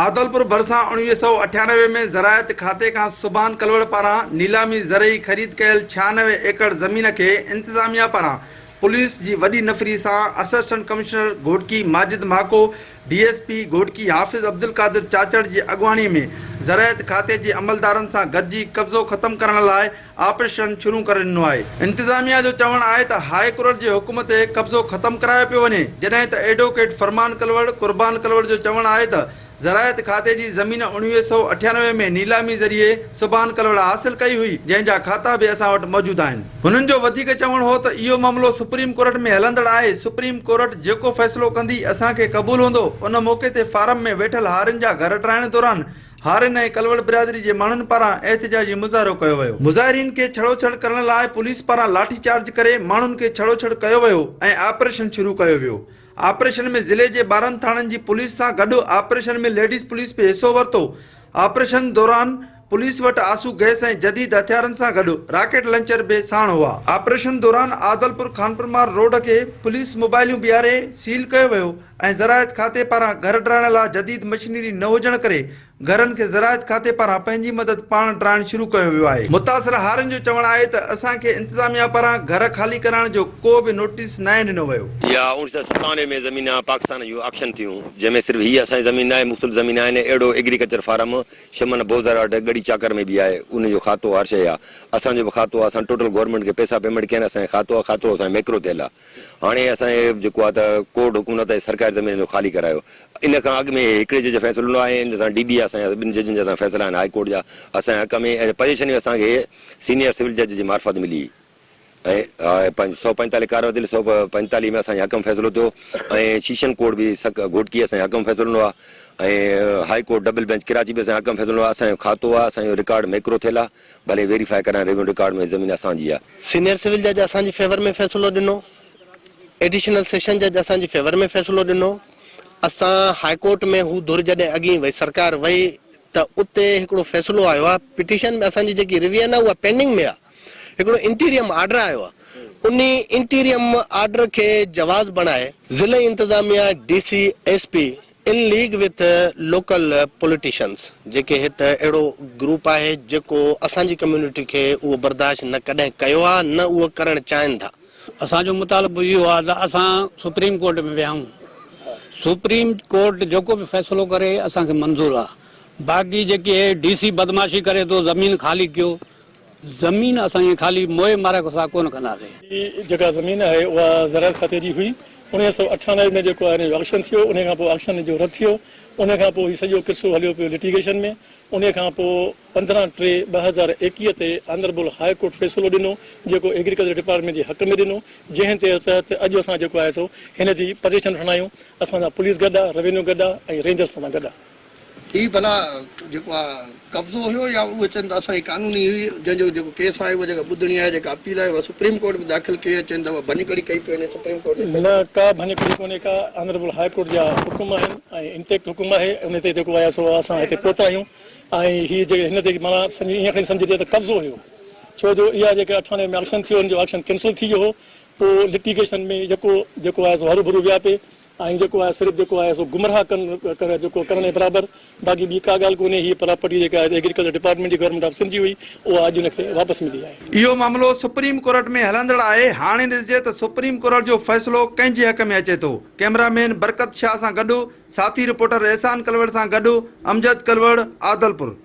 عادلپور ڀرسان اڻويهه سؤ اٺيانوي ۾ زراعت کاتي کان سبحان ڪلوڙ پاران نيلامي زرعي خريد ڪيل ڇهانوي ايڪڙ زمين کي انتظاميا پاران پوليس جي وڏي نفري سان assistant commissioner Ghotki Majid Mahako, D S P Ghotki Hafiz Abdulqadir Chachar جي اڳواڻي ۾ زراعت کاتي جي عملدارن سان گڏجي قبضو ختم ڪرڻ لاء آپريشن شروع ڪري ڏنو آهي انتظاميا جو چوڻ آهي ته هاء ڪورٽ جي حڪم تي قبضو ختم ڪرايو پيو وڃي جڏهن ته ايڊووڪيٽ فرمان ڪلوڙ قربان ڪلوڙ جو چوڻ آهي ته زراعت کاتي جي زمين اوڻويهه سؤ اٺيانوي ۾ نيلامي ذريعي سبحان ڪلوڙ حاصل ڪئي هئي جنهن جا کاتا به اسان وٽ موجود آهن هنن جو وڌيڪ چوڻ هو ته اهو معاملو سپريم ڪورٽ ۾ هلندڙ آهي سپريم ڪورٽ جيڪو فيصلو ڪندي اسان کي قبول هوندو ان موقعي تي فارم ۾ ويٺل هارين جا گهر ٽرائڻ دوران هارين ۽ ڪلوڙ برادري جي ماڻهن پاران احتجاجي مظاهرو ڪيو ويو. مظاهرين کي ڇڙو ڇڙ ڪرڻ لاء پوليس پاران لاٺي چارج ڪري ماڻهن کي ڇڙو ڇڙ ڪيو ويو ۽ آپريشن شروع ڪيو ويو. آپريشن ۾ ضلعي جي ٻارهن ٿاڻن جي پوليس سان گڏ آپريشن ۾ ليڊيز پوليس به حصو ورتو. آپريشن دوران پوليس وٽ آسو گئس ۽ جديد هٿيارن سان گڏ راڪيٽ لنچر به ساڻ هئا. آپريشن دوران عادلپور خانپور مارگ روڊ کي پوليس موبائليون بيهاري سيل ڪيو ويو. ۽ زراعت کاتي پاران گهر ڊرائڻ لا جديد مشينري نه هجڻ ڪري گهرن کي زراعت کاتي پاران پنهنجي مدد پاڻ ڊرائڻ شروع ڪيو ويو آهي. متاثر هارين جو چوڻ آهي ته اسان کي انتظاميا پاران گهر خالي ڪرائڻ جو ڪو به نوٽيس ناهي ڏنو ويو. اها اوڻيھ سئو ستانوي ۾ زمينا پاڪستان جون آڪشن ٿيون جنهن ۾ صرف هيء اسان جي زمين ناهي مختلف زمينا آهن اهڙو ايگريڪلچر فارم شمن بوزر اڙ ڳڙي چاڪر ۾ به آهي ان جو کاتو هر شئي آ اسان جو به کاتو آ اسان ٽوٽل گورنمينٽ کي پئسا پيمينٽ ڪيا آهن اسان جي کاتو آ کاتو اسان جي ميڪرو ٿيل آ. هاڻي اسان هي جيڪو آهي ته ڪورٽ حڪم نه ته سرڪاري زمين جو خالي ڪرايو ان کان اڳ ۾ هي هڪڙي جج جو فيصلو نه آهي ان سان ڊي بي اسان جا ٻن ججن جا فيصلا آهن هاء ڪورٽ جا اسان جي حق ۾ ۽ پوزيشن اسان کي سينيئر سول جج جي معرفت ملي هئي ۽ پنج سؤ پنجتالهه ڪارو دل سؤ پنجتالهه ۾ اسان جي حق ۾ فيصلو ٿيو ۽ شيشن ڪورٽ به سڪ گهوٽڪي اسان جي حق ۾ فيصلو ڏنو آهي ۽ high court double bench Karachi به اسان جي حق ۾ فيصلو ڏنو آهي اسان جو کاتو آهي اسان جو رڪارڊ ميڪرو ٿيل آهي ڀلي ويريفائي ڪرائين ريونيو رڪارڊ ۾ هي زمين اسان جي آ. سينيئر سول جج اسان جي فيور ۾ فيصلو ڏنو ايڊيشنل سيشن جج اسان جي فيور ۾ فيصلو ڏنو اسان هاء ڪورٽ ۾ هو ڌر جڏهن اڳين وئي سرڪار وئي ته اتي هڪڙو فيصلو آيو آ پٽيشن ۾ اسان جي جيڪي ريوين آ اها پينڊنگ ۾ آ هڪڙو انٽيريم آرڊر آيو آ انهي انٽيريم آرڊر کي جواز بڻائي ضلعي انتظاميه D C S P in league with local politicians جيڪي هت اهڙو گروپ آهي جيڪو اسان جي ڪميونٽي کي اهو برداشت نه ڪڏهن ڪيو آ نه اهو ڪرڻ چاهين ٿا. اسان جو مطالبو اهو آ ته اسان سپريم ڪورٽ ۾ ويهائون سپريم ڪورٽ جيڪو به فيصلو ڪري اسان کي منظور آ باقي جيڪي هي ڊي سي بدمعاشي ڪري ٿو زمين خالي ڪيو زمين اسان ائين خالي موئي مارئي کان سواء ڪونه ڪنداسي. هي جيڪا زمين آهي اها زراعت کاتي جي هئي. اڻويهه سؤ اٺاونجاهه ۾ جيڪو آهي آڪشن ٿيو انهي کانپوء آڪشن جو رد ٿيو. انهي کانپوء هي سڄو قصو هليو پيو لٽيگيشن ۾. انهي کانپوء پندرهن ٽي ٻه هزار ايڪيهه تي آنريبل هاء ڪورٽ فيصلو ڏنو جيڪو ايگريڪلچر ڊپارٽمينٽ جي حق ۾ ڏنو جنهن تي تحت اڄ اسان جيڪو آهي سو هن جي پزيشن وٺندا آهيون. اسان سان پوليس گڏ آهي، روينيو گڏ آهي ۽ رينجرز اسان سان گڏ آهي. هي ڀلا جيڪو آ قبضو هيو يا اهي چين ته اسان جي قانوني هئي جنهن جو جيڪو ڪيس آهي اهو جيڪا ٻڌڻي آهي جيڪا اپيل آهي اها سپريم ڪورٽ ۾ داخل ڪئي اهي چين ته اها ڀڃڪڙي ڪئي پئي ني سپريم ڪورٽ جي نه ڪا ڀڃڪڙي ڪونهي ڪا آنريبل هاء ڪورٽ جا حڪم آهن ۽ انٽيڪٽ حڪم آهي ان تي جيڪو آهي سو اسان هتي پهتا آهيون ۽ هي جيڪي هن تي معنيٰ سمجهي ايئن کڻي سمجهجي ته قبضو هيو ڇو جو اها جيڪا اٺاڻي ۾ آڪشن ٿيو ان جو آڪشن ڪينسل ٿي ويو هو پوء لٽيگيشن ۾ يڪو جيڪو آهي سو هروڀرو ويا پي آئين جيڪو آهي صرف جيڪو آهي سو گمراهه ڪن ڪن جيڪو ڪرڻ جي برابر باقي ٻي ڪا ڳالهه ڪونهي هيء پراپرٽي جيڪا آهي ايگريڪلچر ڊپارٽمينٽ جي گورنمينٽ آف سنڌ جي هئي اها اڄ ان کي واپس ملي آهي. اهو معاملو سپريم ڪورٽ ۾ هلندڙ آهي هاڻي ڏسجي ته سپريم ڪورٽ جو فيصلو ڪنهن جي حق ۾ اچي ٿو ڪئميرا مين برڪت شاهه سان گڏ ساٿي رپورٽر احسان ڪلوڙ سان گڏ امجد ڪلوڙ عادلپور.